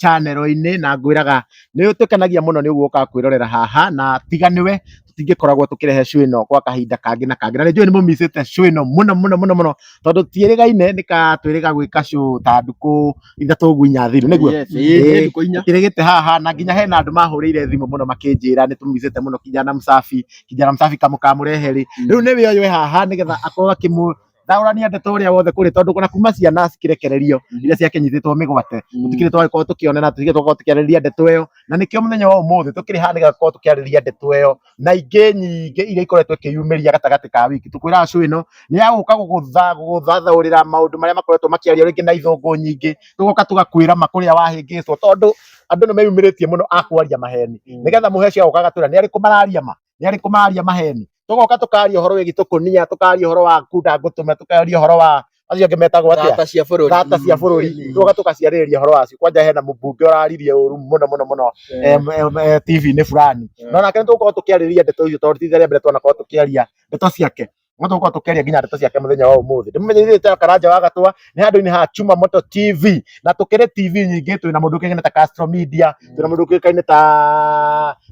chanero-inĩ na ngwĩraga nĩ ũtũkenagia mũno nĩ ũguo kwĩrorera haha na tiga nĩwe tũtingĩkoragwo tũkĩrehe show ĩno gwa kahinda kangĩ na kangĩ na nĩ njũĩ nĩ mũmicĩte show ĩno mũno mũno mũno mũno tondũ tiĩrĩgaine nĩ ka twĩrĩga gwĩka show ta ndukũ ithatũ ũguo inya thiru nĩguo Yes, ĩĩ, Ĩĩ. nĩ ndukũ inya. kĩrĩgĩte haha na nginya hena andũ mahũrĩire thimũ mũno makĩnjĩra nĩ tũmicĩte mũno kijana msafi kijana msafi kamũkamũrehe rĩ rĩu nĩ wĩoywe haha nĩgetha akorwo akĩmũ thaũrania ndeto ũrĩa wothe kũrĩ tondũ ona kuma ciana cikĩrekererio Mhm. iria ciakĩnyitĩtwo mĩgwate Mm. tũtikĩrĩ twagĩkorwo tũkĩona na tũtikĩrĩ twakorwo tũkĩarĩrĩria ndeto ĩyo na nĩkĩo mũthenya wa ũmũthĩ tũkĩrĩ haha nĩgetha tũkorwo tũkĩarĩrĩria ndeto ĩyo na ingĩ nyingĩ iria ikoretwo ikĩyumĩria gatagatĩ ka wiki tũkwĩraga cũ ĩno nĩ ya gũka gũgũtha gũgũthathaũrĩra maũndũ marĩa makoretwo makĩario rĩngĩ na ithũngũ nyingĩ tũgoka tũgakwĩra ma kũrĩa wahĩngĩcwo tondũ andũ nĩ meyumĩrĩtie mũno akwaria maheni Mm. nĩgetha mũheci agũkaga twĩra nĩ arĩkũ mararia ma nĩ arĩkũ maria maheni tũgoka tũkaria ũhoro wĩgiĩ tũkũnia tũkaria ũhoro wa kunda ngũtũme tũkaria ũhoro wa acio angĩ metagwo atĩa Thata cia bũrũri. thata cia bũrũri tũgoka tũgaciarĩrĩria ũhoro wacio kwanja hena mũmbunge ũraririe ũru mũno mũno mũno em, em, eh, TV-inĩ fulani no nake nĩ tũgũkorwo tũkĩarĩrĩria ndeto icio tondũ ti rĩa mbere twanakorwo tũkĩaria ndeto ciake Mũndũ gũkorwo tũkĩaria nginya ndeto ciake mũthenya wa ũmũthĩ. Ndĩmũmenyereire ta Karanja wa Gatũa nĩ handũ-inĩ ha Chuma Moto TV na tũkĩrĩ TV nyingĩ twĩ na mũndũ ũkĩkaine ta Castro Media, twĩ na mũndũ ũkĩkaine ta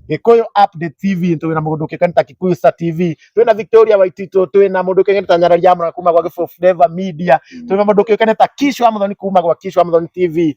Gĩkũyũ Update TV, twĩ na mũndũ ũkĩkaine ta Kikuyu Star TV, twĩ na Victoria Waititũ, twĩ na mũndũ ũkĩkaine ta Nyarari ya Mũra kuma gwa Gĩbũyũ Flavour Media, twĩ na mũndũ ũkĩkaine ta Kish wa Mũthoni kuma gwa Kish wa Mũthoni TV.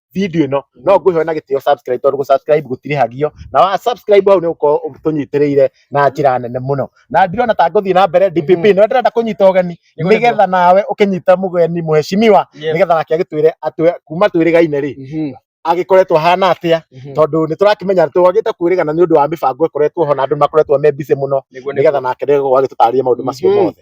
video ĩno no ngũhe na gĩtĩo subscribe tondũ gũ subscribe gũtirĩhagio na wa subscribe hau nĩ ũkorwo tũnyitĩrĩire na njĩra nene mũno na ndirona ta ngũthiĩ na mbere DPP Mhm. nĩ ndĩrenda kũnyita ũgeni Nĩ kũrĩ nĩgetha nawe ũkĩnyita mũgeni mũheshimiwa Yes. nĩgetha nake agĩtwĩre atwe kuma twĩrĩgaine rĩ Mhm, agĩkoretwo hana atĩa mhm. tondũ nĩ tũrakĩmenya twagĩte kwĩrĩgana nĩ ũndũ wa mĩbango ĩkoretwo ho na andũ makoretwo me busy mũno Nĩguo, nĩguo. nĩgetha nake ndegũkorwo agĩtũtarĩria maũndũ macio Mhm. mothe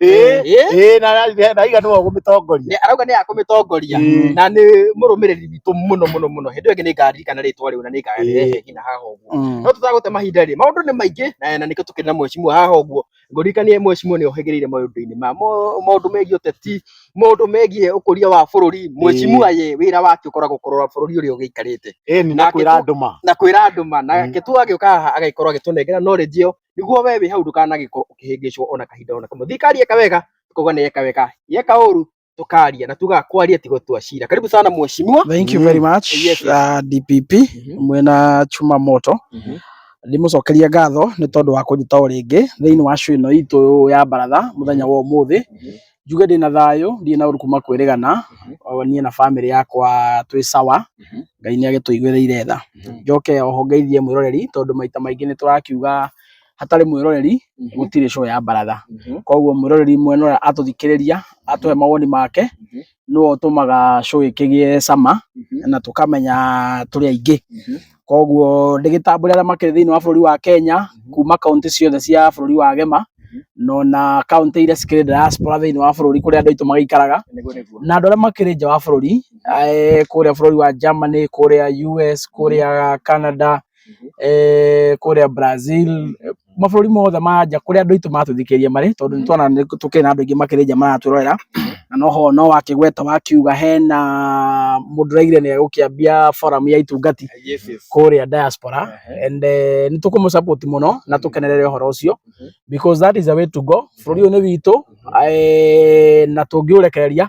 Eh, Eh? eh, na na- na igana wa gũmĩtongoria Nĩ- arauga nĩ akũmĩtongoria Eh. na nĩ mũrũmĩrĩri witũ mũno mũno mũno hĩndĩ ĩyo ĩngĩ nĩ ngaririkana rĩtwa rĩu na nĩ ngarehe ngina haha ũguo Mm. no tũtagũte mahinda rĩ maũndũ nĩ maingĩ na na nĩkĩo tũkĩrĩ na mwecimua haha ũguo ngũririkanie mwecimua nĩ ohĩgĩrĩire maũndũ-inĩ ma mo- maũndũ megiĩ ũteti maũndũ megiĩ ũkũria wa bũrũri mwecimua ye wĩra wake ũkoragwo kũrora bũrũri ũrĩa ũgĩikarĩte ĩni na Nake kwĩra tu- andũ ma na kwĩra andũ ma Mm. nake tu agĩũka haha agagĩkorwo agĩtũnengera knowledge ĩyo niguo we wĩ hau ndũkanagĩkorwo ũkĩhĩngĩcwo ona kahinda ona kamwe. Thirikari yeka wega tukauga nĩ yeka wega, yeka ũru tukaria na tuga kwaria ti gũtua cira. Karibu sana mheshimiwa. Thank you very much Yes, yes. uh, DPP Mhm. mwena chuma moto Mhm. ndĩmũcokeria ngatho nĩ tondũ wa kũnjĩta o rĩngĩ thĩinĩ wa show ĩno itũ ya mbaratha mũthenya wa ũmũthĩ Njuge ndĩna thayũ, ndirĩ na ũru kuma kwĩrĩgana, niĩ na bamĩrĩ yakwa twĩ sawa, Ngai nĩ agĩtũigĩrĩire tha. Njoke oho ngeithie mwĩroreri tondũ maita maingĩ nĩ tũrakiuga hatarĩ mwĩroreri gũtirĩ show ya baratha. Koguo mwĩroreri mwena ũrĩa atũthikĩrĩria, atũhe mawoni make, nĩwe ũtũmaga show ĩkĩgĩe cama na tũkamenya tũrĩ aingĩ. Koguo ndĩgĩtambũre arĩa makĩrĩ thĩinĩ wa bũrũri wa Kenya kuma kaũntĩ ciothe cia bũrũri wa Gema na ona kaũntĩ iria cikĩrĩ diaspora thĩinĩ wa bũrũri kũrĩa andũ aitũ magĩikaraga Nĩguo nĩguo. na andũ arĩa makĩrĩ nja wa bũrũri eh, kũrĩa bũrũri wa Germany, kũrĩa US, kũrĩa Canada, eh, kũrĩa Brazil, mabũrũri mothe ma nja kũrĩa andũ aitũ matũthikĩrĩria marĩ tondũ nĩ tuona nĩ tũkĩrĩ na andũ aingĩ makĩrĩ nja maratũrorera na no ho no wakĩgweta wakiuga hena mũndũ ũraigire nĩ egũkĩambia forum ya itungati Yes, yes. kũrĩa diaspora Ehe. and eh, nĩ tũkũmũ support mũno na tũkenerere ũhoro ũcio Mhm. because that is the way to go bũrũri ũyũ nĩ witũ eh, na tũngĩũrekereria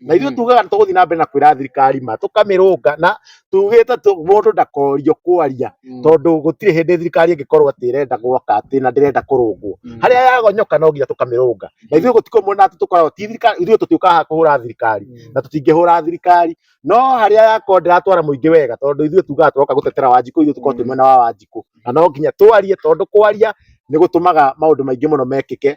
na ithuĩ tugaga tũgũthiĩ na mbere na kwĩra thirikari ma tũkamĩrũnga na tugĩte tũ- mũndũ ndakorio kwaria tondũ gũtirĩ hĩndĩ thirikari ĩngĩkorwo atĩ ĩrenda gwaka atĩ na ndĩrenda kũrũngwo harĩa yagonyoka no nginya tũkamĩrũnga na ithuĩ gũtikũ mwena atĩ tũkoragwo ti thirikari ithuĩ tũtiũkaga kũhũra thirikari na tũtingĩhũra thirikari no harĩa yakorwo ndĩratwara mũingĩ wega tondũ ithuĩ tugaga tũroka gũtetera wanjikũ ithuĩ tũkorwo twĩ mwena wa wanjikũ na no nginya twarie tondũ kwaria nĩ gũtũmaga maũndũ maingĩ mũno mekĩke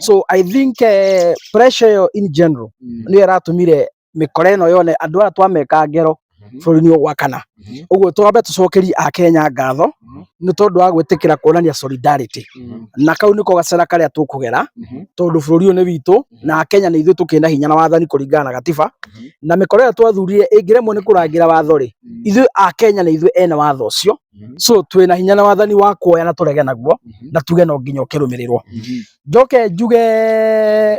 so i think eh, pressure ĩyo in general Mm. nĩyo ĩratũmire mĩkora ĩno yone andũ aya twameka ngero Mhm. bũrũri-inĩ ũyũ wa kana Mhm. ũguo twambe tũcokerie akenya ngatho Mhm. nĩ tondũ wa gwĩtĩkĩra kuonania solidarity Mm. na kau nĩko gacera karĩa tũkũgera Mhm. tondũ bũrũri ũyũ nĩ witũ na akenya nĩ ithuĩ tũkĩna hinya na wathani kũringana na gatiba Mhm. na mĩkora ĩyo twathurire ĩngĩremwo nĩ kũrangĩra watho rĩ Mm. ithuĩ akenya nĩ ithuĩ ene watho ũcio Mhm. so twĩ na hinya na wathani wa kuoya na tũrege naguo Mhm. na tuge no nginya ũkĩrũmĩrĩrwo Mhm. njoke njuge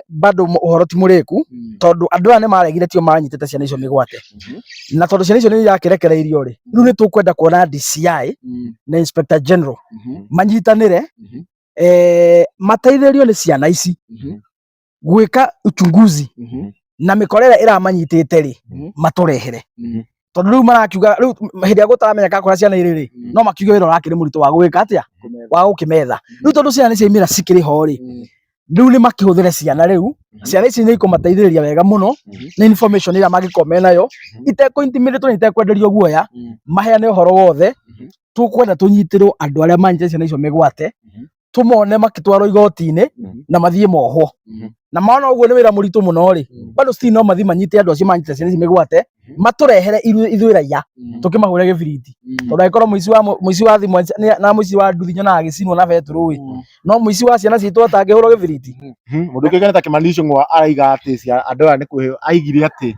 bado mu- ũhoro ti mũrĩku Mhm. tondũ andũ aya nĩ maregire tio manyitĩte ciana icio mĩgwate Mhm. na tondũ ciana icio nĩ irakĩrekereirio rĩ rĩu nĩ tũkwenda kuona DCI Mhm. na Inspector General Mhm. manyitanĩre Mhm. eh, mateithĩrĩrio nĩ ciana ici Mhm. gwika uchunguzi Mhm. na mikorera iramanyitite ri Mhm. maturehere Mhm. tondu riu marakiuga riu hindi ya gutaramenya ka kora ciana iri ri Mhm. no makiuge wira urakiri muritu wa gwika atia Kumera. wa gukimetha riu tondu ciana ni ciaimira cikiri ho ri Mhm. riu ni makihuthire ciana riu Mhm. ciana ici ni ikumateithiriria wega muno Mhm. na information ira magikorwo me nayo Mhm. iteko intimidate na itekwenderio guoya Mhm. maheane uhoro wothe Mhm. tukwenda tunyitirwo andu aria manyite ciana icio migwate Mhm. tumone makitwarwo igoti-inĩ Mhm. na mathiĩ mohwo Mhm. na maona ũguo nĩ wĩra mũritũ mũno rĩ Mhm. bado si no mathiĩ manyite andũ acio manyite ciana ici mĩgwate Mhm. matũrehere iru- ithuĩ raiya Mhm. tũkĩmahũre gĩbiriti Mhm. tondũ angĩkorwo mũici wa mũ- mũici wa thimũ nĩ- na mũici wa nduthi nyonaga agĩcinwo na betũrũ ĩ Mhm. no mũici wa ciana citũ atangĩhũrwo gĩbiriti Mhm. Mũndũ ũngĩ nĩ ta Kimani Ichung'wa araiga atĩ cia- andũ aya nĩ kwĩhĩ- aigire atĩ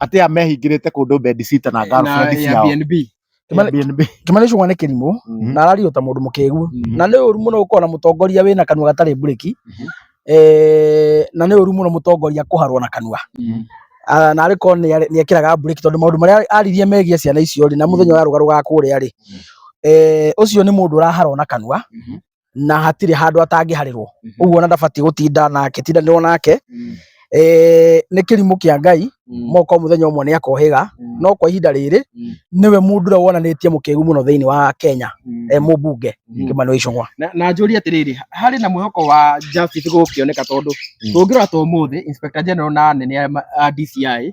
atä a mehingä te kå ndå bedcita na girlfriend Na ciao Airbnb. Kĩmani- Airbnb. Kimani Ichung'wa nĩ kĩrimũ Mhm. na arario ta mũndũ mũkĩgu Mhm. na nĩ ũru mũno gũkorwo na mũtongoria wĩna kanua gatarĩ mburĩki Mhm. Eh, na nĩ ũru mũno mũtongoria kũharwo na kanua Mhm. Ah, na arĩ korwo nĩ ekĩraga mburĩki tondũ maũndũ marĩa aririe megiĩ ciana icio rĩ na mũthenya wa rũgarũ ga kũrĩa rĩ eh, ũcio nĩ mũndũ ũraharwo na kanua Mhm. na hatirĩ handũ atangĩharĩrwo Mhm. ũguo ona ndabatiĩ gũtinda nake tindanĩrwo nake Mm. eh, nĩ kĩrimũ kĩa ngai Mm. moko mũthenya ũmwe nĩ akohĩga Mm. no kwa ihinda rĩrĩ Mm. nĩwe mũndũ ũrĩa wonanĩtie mũkĩgu mũno thĩinĩ wa kenya Mm. eh, mũmbunge Mm. kĩmani icũng'wa na na njũrie atĩrĩrĩ harĩ na mwĩhoko wa justice gũkĩoneka tondũ tũngĩrora ta ũmũthĩ inspector general na anene a ma- a DCI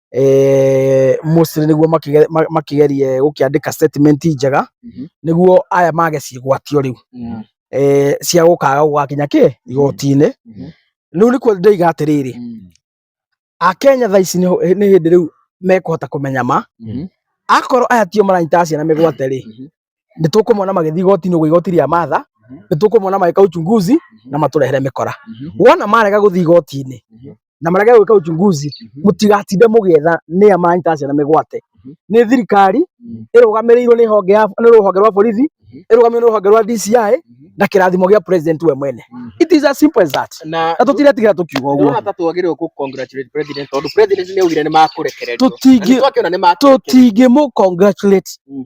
eh, Moses nĩguo makĩge- ma- makĩgerie gũkĩandĩka statement njega Mhm. nĩguo aya mage cigwatio rĩu Mm. eh, cia gũkaga gũgakinya kĩ igoti-inĩ Mhm. rĩu nĩkuo ndoiga atĩrĩrĩ Mm. akenya thaa ici nĩ hũ- nĩ hĩndĩ rĩu mekũhota kũmenya ma Mhm. akorwo aya tio maranyita ciana mĩgwate rĩ Mhm. nĩ tũkũmona magĩthiĩ igoti-inĩ ũguo igoti rĩa matha nĩ tũkũmona magĩka uchunguzi na matũrehere mĩkora wona marega gũthiĩ igoti-inĩ na marega gwĩka uchunguzi mũtigatinde mũgĩetha nĩ a maranyita ciana mĩgwate nĩ thirikari ĩrũgamĩrĩirwo nĩ honge ya nĩ rũhonge rwa borithi ĩrũgamĩrĩirwo nĩ rũhonge rwa DCI na kĩrathimo gĩa president we mwene it is as simple as that na na tũtiretigĩra tũkiuga ũguo ndona ta twagĩrĩirwo kũ congratulate president tondũ president nĩ augire nĩ makũrekererio Tũtingi- Na nĩ twakĩona nĩ makũrekererio tũtingĩmũ congratulate Mm.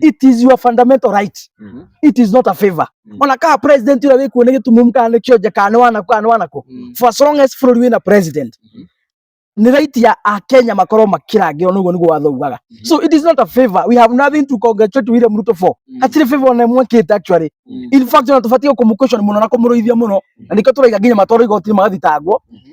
it is your fundamental right Mhm. it is not a favor Mm. ona kaa president ira wiku ne gitu mumka ne kyo jaka ne wana kwa ne wana ko Mm. for as long as bũrũri wĩna president Mhm. nĩ right ya akenya makorwo makĩrangĩrwo nĩguo nĩguo watho ugaga Mhm. so it is not a favor we have nothing to congratulate William Ruto for Mm. hatirĩ favor ona ĩmwe kĩte actually Mm. in fact ona tũbatiĩ kũmũ question mũno na kũmũrũithia mũno na nĩkĩo tũraiga nginya matwarwo igoti-inĩ magathitangwo Mhm.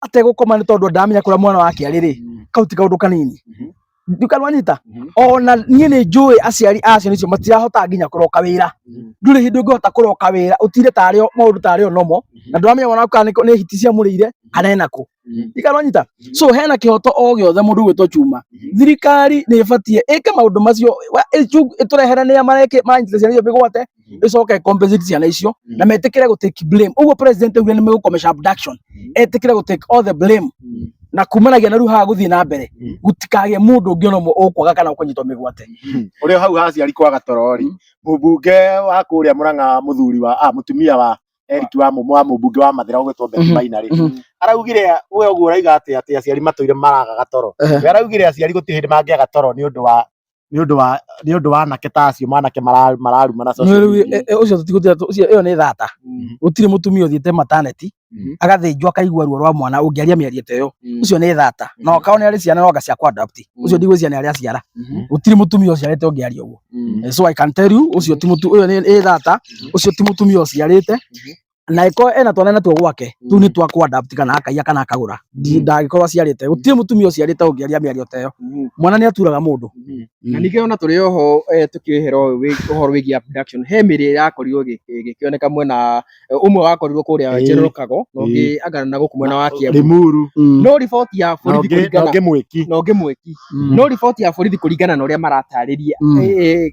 ategũkoma nĩ tondũ ndamenya kũrĩa mwana wake arĩ rĩ Mm. kau ti kaũndũ kanini Mhm. ndukanwanyita Mhm. ona niĩ nĩ njũĩ aciari a ciana icio matirahota nginya kũroka wĩra Mhm. ndũrĩ hĩndĩ ũngĩhota kũroka wĩra ũtinde tarĩo maũndũ tarĩo nomo na ndũramenya mwana waku kana nĩ- nĩ hiti ciamũrĩire kana enakũ Mhm. ikanwanyita so hena kĩhoto o gĩothe mũndũ gwĩtwo cuma Mhm. thirikari nĩ ĩbatiĩ ĩke maũndũ macio wa- ĩcu- ĩtũrehere nĩa mareke manyitĩte ciana icio mĩgwate Mm. icoke ĩcompensate ciana icio Mm. na metĩkĩre gå take blame ũguo president augire nĩ megũkomesha abduction Mm. etĩkĩre gå take all the blame Mm. na kumanagia na rĩu haha gũthiĩ na mbere Mm. gũtikagĩe mũndũ ũngĩ ona ũmwe ũkwaga kana ũkũnyitwo mĩgwate Ũrĩ o hau haciari kwa gatorori. Mm. Mũmbunge wa kũrĩa Mũrang'a mũthuri wa ah, mũtumia wa Eric wa mũmũ wa mũmbunge wa Mathira ũgwĩtwo Betty Mhm. Maina rĩ. Mhm. Araugire we ũguo ũraiga atĩ atĩ aciari matũire maraga gatoro. Ehe. We araugire aciari gũtirĩ hĩndĩ mangĩaga toro nĩ ũndũ wa nĩ ũndũ wa nĩ ũndũ wa anake ta acio manake mara- mararuma na social Nĩũrĩ- media. e- e- ũcio tũtigũtira ũcio ĩyo nĩ thata Mhm. gũtirĩ mũtumia ũthiĩte mataneti Mhm. agathĩnjwo akaigua ruo rwa mwana ũngĩaria mĩario ta ĩyo Mhm. ũcio nĩ thata na ũkao nĩ arĩ ciana noga cia kwandapt Mhm. ũcio ndigwĩcia nĩ arĩa ciara Mhm. gũtirĩ mũtumia ũciarĩte ũngĩaria ũguo Mhm. Eh, so i can tell you ũcio ti mũtu ũyũ nĩ nĩ thata ũcio ti mũtumia ũciarĩte na iko ena twana na tuo gwake tu ni twa kwa adapt kana akaiya kana akagura ndagĩkorwo aciarĩte gũtirĩ mũtumia ũciarĩte ũngĩaria mĩario ta ĩyo mwana nĩ aturaga mũndũ na ningĩ ona tũrĩ oho eh, tũkĩhera ũyũ wĩ- ũhoro wĩgiĩ abduction he mĩrĩ ĩrakorirwo ĩgĩ- ĩgĩkĩoneka mwena eh, ũmwe wakorirwo kũrĩa Ĩĩ. General Kago na ũngĩ angana na gũkũ mwena wa Kiambu rimuru Mm. no riboti ya na borithi ũngĩ na kũringana ũngĩ mwĩki na ũngĩ mwĩki Mm. no riboti ya borithi kũringana na ũrĩa maratarĩria Mm. eh, eh,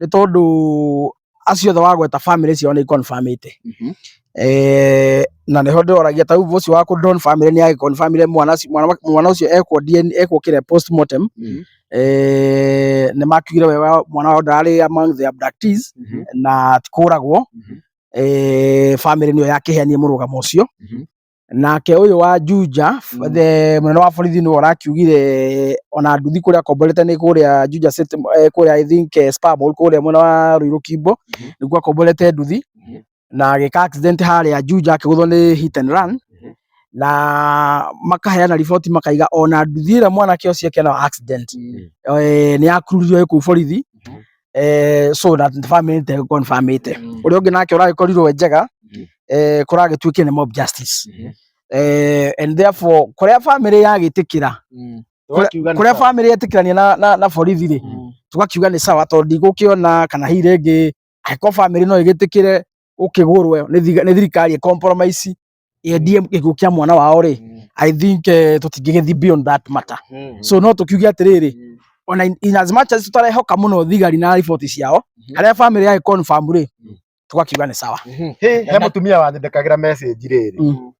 nĩ tondũ acio othe wagweta family ciao nĩ confirmĩte Mhm. eh na nĩho ndĩroragia ta rĩu ũcio wa kũ don family nĩ agĩconfirmire mwana ũcio- mwana mwana ũcio ekwo DNA ekwo kĩrĩa postmortem Mhm. eh nĩ makiugire we wa- mwana wao ndararĩ among the abductees Mhm. na tikũragwo Mhm. eh family nĩyo yakĩheanie mũrũgamo ũcio Mhm. nake ũyũ wa Juja Mm. the mũnene wa borithi nĩwe ũrakiugire ona nduthi kũrĩa akomborete nĩ kũrĩa Juja City eh, kũrĩa I think eh, Spar Mall kũrĩa mwena wa Ruiru Kimbo Mhm. nĩkuo akomborete nduthi Mhm. na agĩka accident harĩa Juja akĩgũthwo nĩ hit and run Mhm. na makaheana riboti makaiga ona nduthi ĩrĩa mwanake ũcio ekĩana wa accident eh, nĩ yakururirwo ĩkũu borithi Mhm. eh, so that famĩte gũkorwo nĩ famĩte Mm. ũrĩa ũngĩ nake ũragĩkorirwo e njega Mhm. eh, kũragĩtuĩkire nĩ mob justice Mhm. eh, and therefore kũrĩa famĩlĩ yagĩtĩkĩra Mm. Kũrĩa- Wakiuga nĩ kũrĩa sawa. famĩlĩ yetĩkĩrania na, na, na borithi rĩ Mm. tũgakiuga nĩ sawa tondũ ndigũkĩona kana hihi rĩngĩ angĩkorwo famĩlĩ no ĩgĩtĩkĩre ũkĩgũrwe nĩ thiga- nĩ thirikari ĩkompromise endie gĩkuũ kĩa mwana wao rĩ Mm. i think eh, tũtingĩgĩthi beyond that matter Mm. so no tũkiuge atĩrĩrĩ Mm. ona in- in as much as tũtarehoka mũno thigari na riboti ciao Mhm. harĩa family ya confirm rĩ Mm. tũgakiuga nĩ sawa Mhm. Hĩ, he mũtumia wandĩkagĩra message rĩrĩ Mm.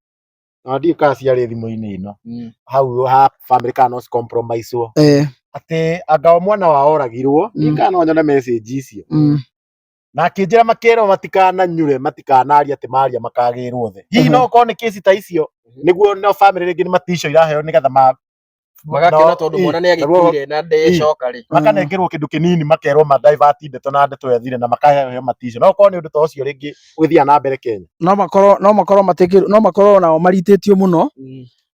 na ndiũ kaa ciarĩ thimũ-inĩ ĩno Mm. hau ha family kana no compromisewo eh, atĩ anga o mwana wa oragirwo Mm. nĩ kana no nyone message icio mm, na akĩnjĩra makerwo matikananyure matikanaria atĩ maria makagĩrwo thĩ hihi Mhm. no okorwo nĩ kĩsi ta icio Mhm. nĩguo no famĩlĩ rĩngĩ nĩ maticio iraheo nĩgetha ma magakena no, tondũ ii, mwana nĩ naguo- agĩkuire na ndecoka rĩ makanengerwo kĩndũ kĩnini makerwo ma divert ndeto na ndeto ya thire na makaheo maticio no okorwo nĩ ũndũ ta ũcio rĩngĩ ũgĩthiaga na mbere Kenya no makorwo no makorwo matekĩrwo no makorwo nao maritĩtio mũno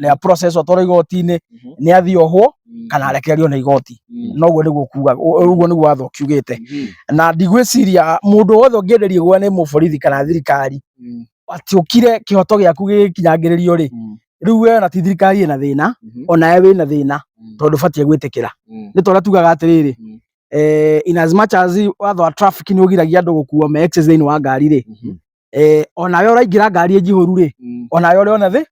rĩa process atwarwo igoti-inĩ Mhm. nĩ athiĩ ohwo Mm. kana arekererio nĩ igoti Mm. noguo nĩguo kuga ũguo nĩguo watho ũkiugĩte Mhm. na ndigwĩciria mũndũ wothe ũngĩenderio gwa nĩ mũborithi kana thirikari Mm. atĩ ũkire kĩhoto gĩaku gĩkinyangĩrĩrio rĩ Mm. rĩu we ona ti thirikari ĩna thĩna Mhm. onawe wĩna thĩna Mm. tondũ batiĩ gwĩtĩkĩra Mm. nĩ tondũ tugaga atĩrĩrĩ Mm. eh, in as much as watho wa traffic nĩ ũgiragia andũ gũkuo me excess thĩinĩ wa ngari rĩ Mhm. eh, onawe ũraingĩra ngari njihũru rĩ Mm. onawe ũrĩ ona thĩ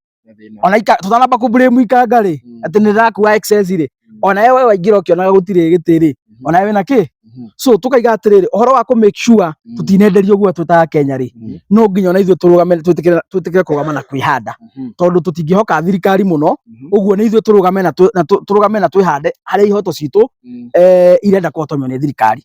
ona ika tutanamba ku blame ikanga ri mm. ati ni rakua excess ri mm. ona wewe waingira ukionaga gutire giti ri mm. ona wewe na ki mm-hmm. so tukaiga atiriri uhoro wa ku make sure mm. tutinenderio guo twitaga Kenya ri mm. no nginya ona ithuĩ tũrũgame twĩtĩkĩre twĩtĩkĩre kũrũgama na kwĩhanda mm-hmm. tondũ tũtingĩhoka thirikari mũno mm-hmm. ũguo nĩ ithuĩ tũrũgame na tũrũgame na twĩhande harĩa ihoto citũ eh, irenda kũhotomio nĩ thirikari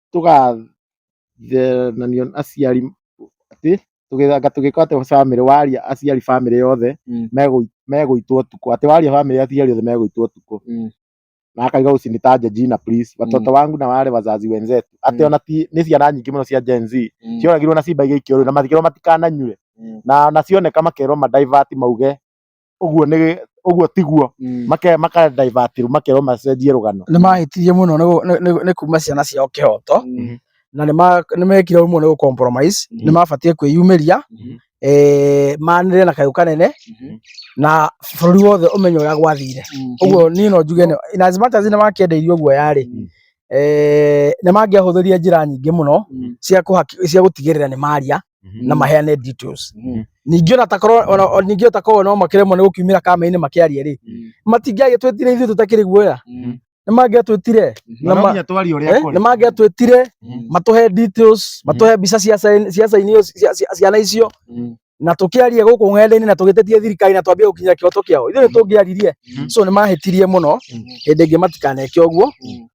tũgathenanio nĩ aciari atĩ tũgĩthanga anga tũgĩkora atĩ bamĩrĩ waria aciari bamĩrĩ yothe Mm. megũ- megũitwo ũtukũ atĩ waria bamĩrĩ ya aciari yothe megũitwo ũtukũ Mm. na akaiga usinitaje jina please watoto Mm. wangu na wale wazazi wenzetu atĩ Mm. ona ti nĩ ciana nyingĩ mũno cia Gen Z Mm. cioragirwo na cimba igĩikio rĩu na matikĩrwo matikananyue Mm. na na cioneka makerwo ma divert mauge ũguo nĩ ũguo tiguo make maka divert makerwo macenjie rũgano nĩ mahĩtirie mũno nĩ gũ- nĩ- nĩ- nĩ kuma ciana ciao kĩhoto Mhm. na nĩ ma- nĩ mekire ũmwe nĩ gũcompromise nĩ mabatiĩ kwĩyumĩria Mhm. eh, manĩre na kayũ kanene Mhm. na bũrũri wothe ũmenye ũrĩa gwathire ũguo niĩ no njuge nĩ- in as much as nĩ makĩendeirio guoya rĩ Mhm. eh, nĩ mangĩahũthĩrire njĩra nyingĩ mũno Mhm. cia kũhaki- cia gũtigĩrĩra nĩ maria Mhm. na maheane details Mhm. ningĩ ona takorwo ona- o- ningĩ takorwo no makĩremwo nĩ gũkiumĩra kama-inĩ makĩaria rĩ Mhm. matingĩagĩtwĩtire ithuĩ tũtakĩrĩ guoya Mhm. nĩ mangĩatwĩtire Mhm. na ma- Nonginya twarie ũrĩa eh, kũrĩ. nĩ mangĩatwĩtire Mhm. matũhe details matũhe mbica cia sign- cia sign iyo- cia- cia- ciana icio Mhm. na tũkĩaria gũkũ ng'enda-inĩ na tũgĩtetie thirikari na twambie gũkinyĩra kĩhoto kĩao ithuĩ nĩ tũngĩaririe Mhm. so nĩ mahĩtirie mũno Mhm. hĩndĩ ĩngĩ matikaneke ũguo Mhm.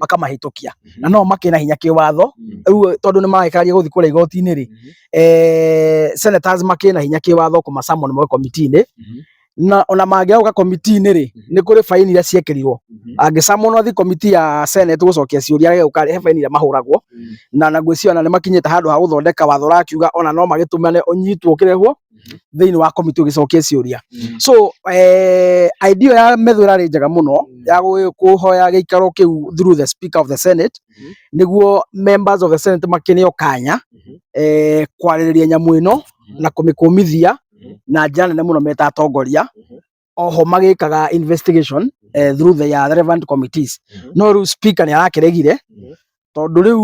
makamahĩtũkia na no makĩna hinya kĩwatho rĩu tondũ nĩ maragĩkararia gũthiĩ kũrĩa igoti-inĩ rĩ eh, senators makĩna hinya kĩwatho kũmacamon moe komiti-inĩ na ona mangĩauka komiti-inĩ rĩ nĩ kũrĩ baini iria ciekĩrirwo angĩcamonwo athi komiti ya senate gũcokia ciũria rege ũkarĩ he baini iria mahũragwo na na ngwĩciria ona nĩ makinyĩte handũ ha gũthondeka watho ũrakiuga ona no magĩtũmane ũnyitwo ũkĩrehwo thĩinĩ wa komiti ũgĩcokia ciũria so eh, idea ya metho ĩrarĩ njega mũno ya gũ- kũhoya gĩikaro kĩu through the speaker of the senate Mhm. nĩguo members of the senate makĩneo kanya Mhm. eh, kwarĩrĩria nyamũ ĩno na kũmĩkũmithia Mhm. na njĩra nene mũno meta atongoria Mhm. oho magĩkaga investigation eh, through the ya relevant committees Mhm. no rĩu speaker nĩ arakĩregire Mhm. tondũ rĩu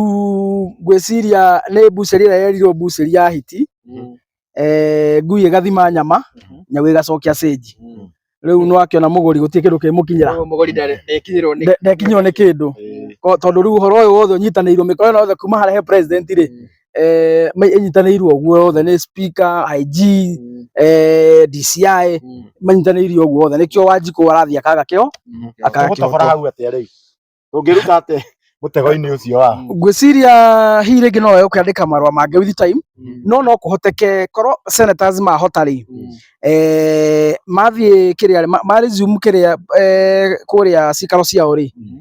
ngwĩciria nĩ mbucĩri ĩrĩa yerirwo mbucĩri ya hiti Mhm. eh, ngui ĩgathima nyama Mhm. nyau ĩgacokia stage Mhm. rĩu no akĩona mũgũri gũtirĩ kĩndũ kĩmũkinyĩra Koguo mũgũri ndarĩ- ndekinyĩrwo nĩ- Nde- ndekinyĩrwo nĩ kĩndũ Ko- tondũ rĩu ũhoro ũyũ wothe ũnyitanĩirwo mĩkora ĩno yothe kuma harĩa he president rĩ eh, ma- ĩnyitanĩirwo ũguo othe nĩ speaker IG Mm, eh, DCI mm, manyitanĩirio ũguo othe nĩkĩo wanjikũ arathiĩ akaga kĩo mm. Akaga Tũgũtogora kĩhooto. hau atĩa rĩu tũngĩruta atĩ mũtego-inĩ ũcio wa ngwĩciria hihi rĩngĩ no wee ũkĩandĩka marũa mangĩ with time no no kũhoteke korwo senators mahota rĩ eh, mathiĩ kĩrĩa ma- ma resume kĩrĩa eh, kũrĩa cikaro ciao rĩ Mhm.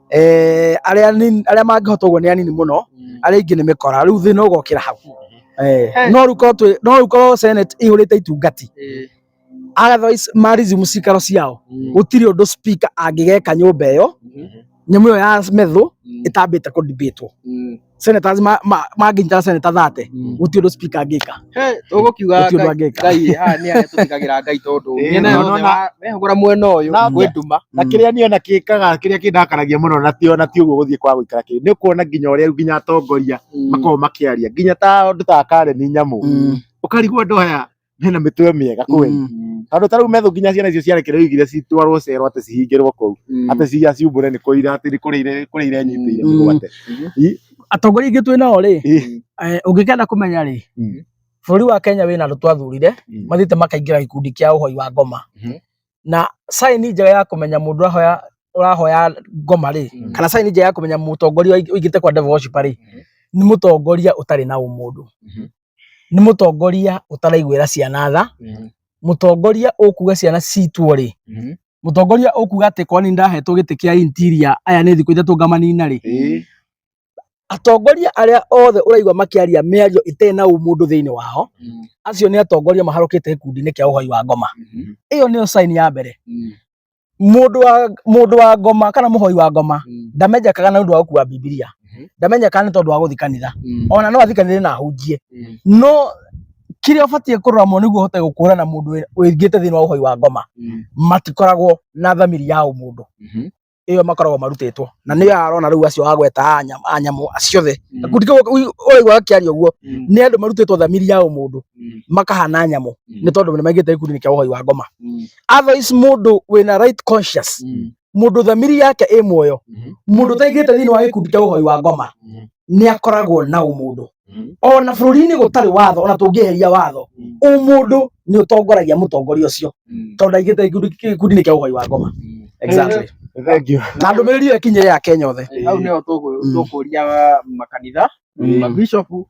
eh, arĩa anini- arĩa mangĩhota ũguo nĩ anini mũno arĩa ingĩ nĩ mĩkora rĩu thĩna ũgokĩra hau Eh, He. no rĩu korwo twĩ- no rĩu korwo senate ihũrĩte itungati otherwise marizimu cikaro ciao gũtirĩ ũndũ speaker angĩgeka nyũmba ĩyo nyamũ ĩyo ya methũ ĩtambĩte kũdibĩtwo senators ma- ma- mangĩnyitana seneta 30 Mm. gũtirĩ ũndũ speaker angĩka He, tũgũkiuga Gũtirĩ ũndũ Ngai- angĩka. ngai aya nĩ arĩa tũtigagĩra ngai tondũ Ĩĩ, mĩena na yothe ũrona- wa- mehũgũra mwena ũyũ Na- gwĩ nduma na Mm. kĩrĩa niĩ ona kĩkaga kĩrĩa kĩndakaragia mũno na tio na ti ũguo gũthiĩ kwa gũikara kĩrĩ nĩ kuona nginya ũrĩa rĩu nginya atongoria makoragwo makĩaria nginya ta andũ ta Karen Nyamu Mm. ũkarigwo andũ aya mena mĩtwe mĩega kweli Mm, tondå tarä u methå nginya ciana icio ciarekererio igire citwarwo cero atä cihingä rwo kå u mm. atä ciia ciumbå re nä kå ira atä kå rä ire kå rä ire nyitä ire Mm. mĩgwate atongoria ingĩ twĩ nao rĩ Ĩ. eh, ũngĩkenda kũmenya rĩ Mm. bũrũri wa kenya wĩna andũ twathurire Mm. mathiĩte makaingĩra gĩkundi kĩa ũhoi wa ngoma Mhm. na saini njega ya kũmenya mũndũ ũrahoya ũrahoya ngoma rĩ Mm. kana saini njega ya kũmenya mũtongoria ũig- ũigĩte kwa devil worship rĩ nĩ mũtongoria ũtarĩ na ũmũndũ Mhm. nĩ mũtongoria ũtaraiguĩra ciana tha Mhm. mũtongoria ũkuga ciana citwo rĩ Mhm. mũtongoria ũkuga atĩ kwani ndahetwo gĩtĩ kĩa interior aya nĩ thikũ ithatũ ngamanina rĩ Ĩĩ. atongoria arĩa othe ũraigua makĩaria mĩario ĩtarĩ na ũmũndũ thĩinĩ wao Mhm. acio nĩ atongoria maharũkĩte gĩkundi-inĩ kĩa ũhoi wa ngoma Mhm. ĩyo nĩyo sign ya mbere Mhm. mundu wa mundu wa ngoma kana muhoi wa ngoma mm. ndamenyekaga na undu wa gukua bibilia mm-hmm. ndamenyekaga ni tondu wa guthi kanitha mm. ona no athi kanitha na ahunjie mm. no kiria ubatie kurora mo niguo hote gukura na mundu wingite thini wa uhoi wa ngoma matikoragwo na thamiri ya umundu mm-hmm. iyo makoragwo marutitwo na ni arona riu acio agweta anyamu anyamu ciothe kuti uraigua akiaria uguo ni andu marutitwo thamiri ya umundu makahana nyamu ni tondu ni maigite gikundi kia uhoi wa ngoma otherwise mundu wina right conscious mm. mundu thamiri yake i muoyo mm-hmm. mundu taigite thini wa gikundi kia uhoi wa ngoma mm-hmm. ni akoragwo na umundu mm-hmm. ona bururi-ini gutari watho ona tungiheria watho umundu ni utongoragia mutongoria ucio tondu ndaigite gikundi-ini kia uhoi wa ngoma exactly na ndumä rä ri ä yo ä kinyä rä ya kenya othe hau nä ho tå kå ria makanitha mabishopu